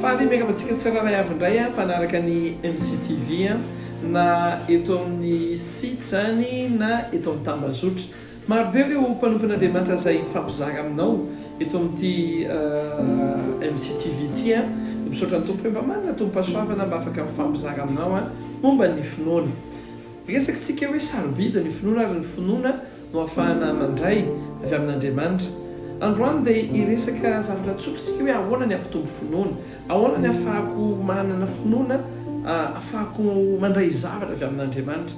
Faly miaraka amintsika tsirairay avy indray an mpanaraka ny MCTV an, na eto amin'ny site izany na eto amin'ny tambazotra. Maro be ireo mpanompon'Andriamanitra izay hifampizara aminao eto amin'ity MCTV ity an. Dia misaotra ny Tompo hoe mba manana tombom-pahasoavana mba afaka mifampizara aminao an momba ny finoana. Resaky tsika hoe sarobidy ny finoana ary ny finoana no afahana mandray avy amin'Andriamanitra. Androany dia hiresaka zavatra tsotra tsika hoe ahoana ny hampitombo finoana? Ahoana ny afahako manana finoana afahako mandray zavatra avy amin'Andriamanitra?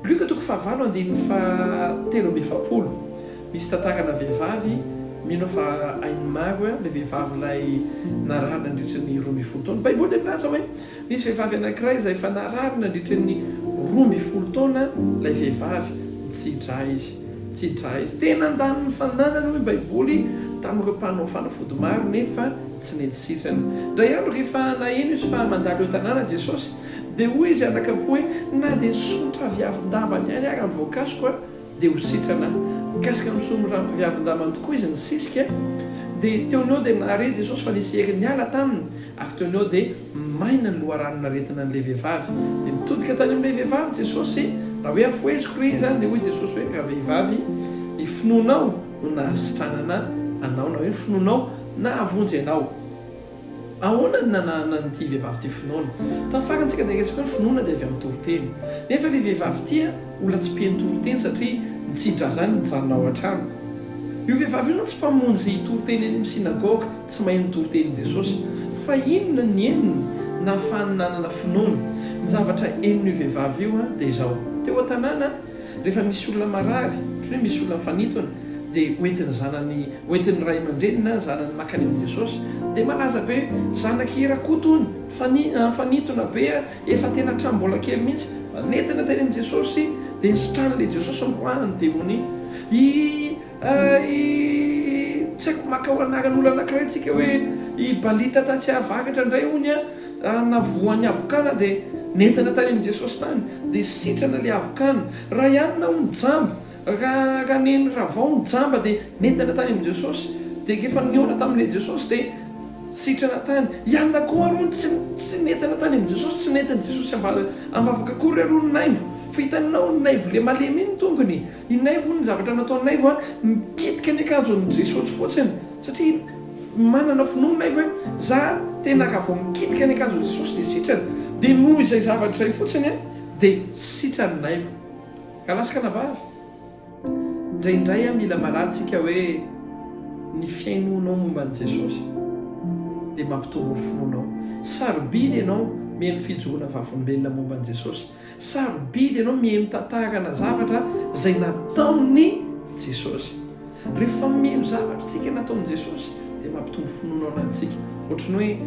Lioka toko fahavalo andininy fahatelo amby efapolo misy tantarana vehivavy mino fa hainy maro ilay vehivavy ilay narary nandritra ny roa ambin'ny folo taona. Baiboly dia milaza hoe. Nisy vehivavy anankiray izay efa narary nandritra ny roa ambin'ny folo taona ilay vehivavy. Nitsi-dra izy. Nitsi-dra izy. Tena handany ny fananany, hoy ny Baiboly, tamin'ireo mpanao fanafody maro, nefa tsy nety sitrana. Indray andro, rehefa naheno izy fa mandalo eo an-tanàna Jesosy, dia hoy izy anaka-po hoe, Na dia ny solontraviavin-dambany ihany àry no voakasiko, dia ho sitrana. Mikasika ny soa mirampiviavin-damany tokoa izy nisisika, dia teo noho dia nahare Jesosy fa nisy hery niala taminy, avy teo noho dia maina ny loharanon'aretina an'ilay vehivavy. Dia nitodika tany amin'ilay vehivavy Jesosy, raha hoe afoheziko re izany, dia hoy Jesosy hoe, Ravehivavy, ny finoanao no nahasitranana anao, na hoe ny finoanao nahavonjy anao. Ahoana no nananana an'ity vehivavy ity finoana? Tamin'ny farantsika dia resaka hoe finoana dia avy amin'ny toriteny. Nefa ry vehivavy ity a, mbola tsy mpino toriteny satria nitsidrazany nijanona ao an-trano. Io vehivavy io zany tsy mpamonjy toriteny any amin'ny synagoga, tsy mahay ny toritenin'i Jesosy. Fa inona ny henony nahafahany nanana finoana? Ny zavatra henon'io vehivavy io dia izao, teo an-tanàna, Rehefa misy olona marary, ohatry ny hoe misy olona mifanintona, dia hoentin'ny zanany, hoentin'ny ray aman-dreniny na ny zanany mankany amin'i Jesosy, dia malaza be hoe, Zanak'i Rakoto hono, mifanina, mifanintona be, efa tena hatramin'ny mbola kely mihitsy, fa nentina teny amin'i Jesosy, dia ny sitran'ilay Jesosy noroahan'ny demonia. I. Hay tsy haiko makao anaran'olo anakiray tsika hoe i Balita ta Tsiahavakatra ndray hono a raha navoan'ny habokana dia nentana tany amin'i Jesosy tany dia sitrana le habokana. Rayanina hono jamba ra ra neny ravao hono jamba dia nentana tany amin'i Jesosy dia rehefa nihaona tamin'le Jesosy dia sitrana tany. I Anna koa ary hono tsy tsy nentana tany amin'i Jesosy tsy nentin'i Jesosy ambala ambavaka akory ary hono naivo fa hitanao naivo le malemy iny tongony. I Naivo hono ny zavatra nataon'i Naivo a, nikitika ny akanjo an'i Jesosy fotsiny, satria manana finoana Naivo hoe za tena raha vao mikitika ny akanjo an'i Jesosy dia sitrana, dia noho izay zavatra izay fotsiny a, dia sitran'i Naivo. Raha lahy sy kanabavy, indraindray a mila marary tsika hoe ny fihainoanao momba an'i Jesosy dia mampitombo ny finoanao. Sarobidy ianao mihaino fijoroana vavolombelona momba an'i Jesosy, Sarobidy ianao miheno tantarana zavatra izay nataon'i Jesosy. Rehefa miheno zavatra isika nataon'i Jesosy dia mampitombo finoana ao anatintsika. Ohatry ny hoe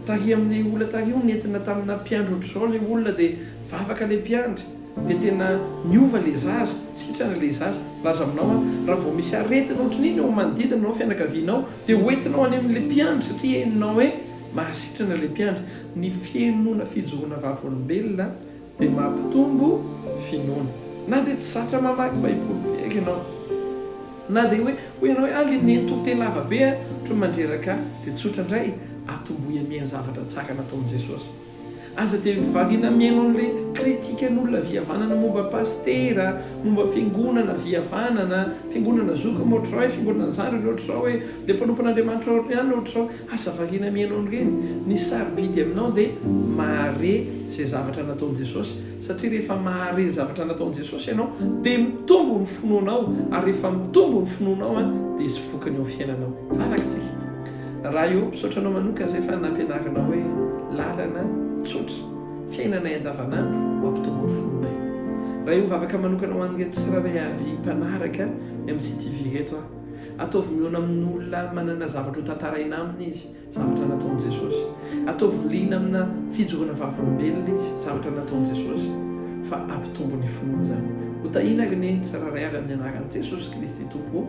taria amin'ilay olona taria hono nentina tamina mpiandry ohatr'izao ilay olona dia nivavaka ilay mpiandry dia tena niova ilay zaza. Sitrana ilay zaza. Laza aminao aho, raha vao misy aretina ohatry iny eo manodidina anao, fianakavianao dia hoentinao any amin'ilay mpiandry satria henonao hoe. Mahasitrana ilay mpiandry. Ny fihainoana fijoroana vavolombelona dia mampitombo finoana. Na dia tsy zatra mamaky Baiboly be àry ianao, na dia hoe hoy ianao hoe, 'Ah, ilay nenitory teny lava be hono mandreraka ahy! dia tsotra indray, atomboy amian'ny zavatra tsara nataon'i Jesosy. Aza dia variana mihaino an'ilay kritikan'olona vihavanana momba pasitera, momba fiangonana vihavanana, fiangonana zokiny ohatr'izao hoe fiangonana zandriny ohatr'izao hoe dia mpanompon'Andriamanitra ohatrany ihany ohatr'izao. Aza variana mihaino an'ireny. Ny sarobidy aminao dia mahare izay zavatra nataon'i Jesosy satria rehefa mahare ny zavatra nataon'i Jesosy ianao dia mitombo ny finoanao ary rehefa mitombo ny finoanao dia hisy vokany eo amin'ny fiainanao. Vavaka isika. Raio, misaotra anao manoka zay fa nampianarinao hoe lalana tsotra fiainanay andavanandro mampitombo ny finoanay. Raio mivavaka manokana ho an'ireto tsirairay avy mpanaraka MCTV ireto aho. Ataovy mihaona amin'olona manana zavatra ho tantaraina aminy izy, zavatra nataon'i Jesosy. Ataovy liana amina fijoroana vavolombelona izy, zavatra nataon'i Jesosy, fa hampitombo ny finoany izany. Ho tahiana ry neny tsirairay avy amin'ny anaran'i Jesosy Kristy Tompo.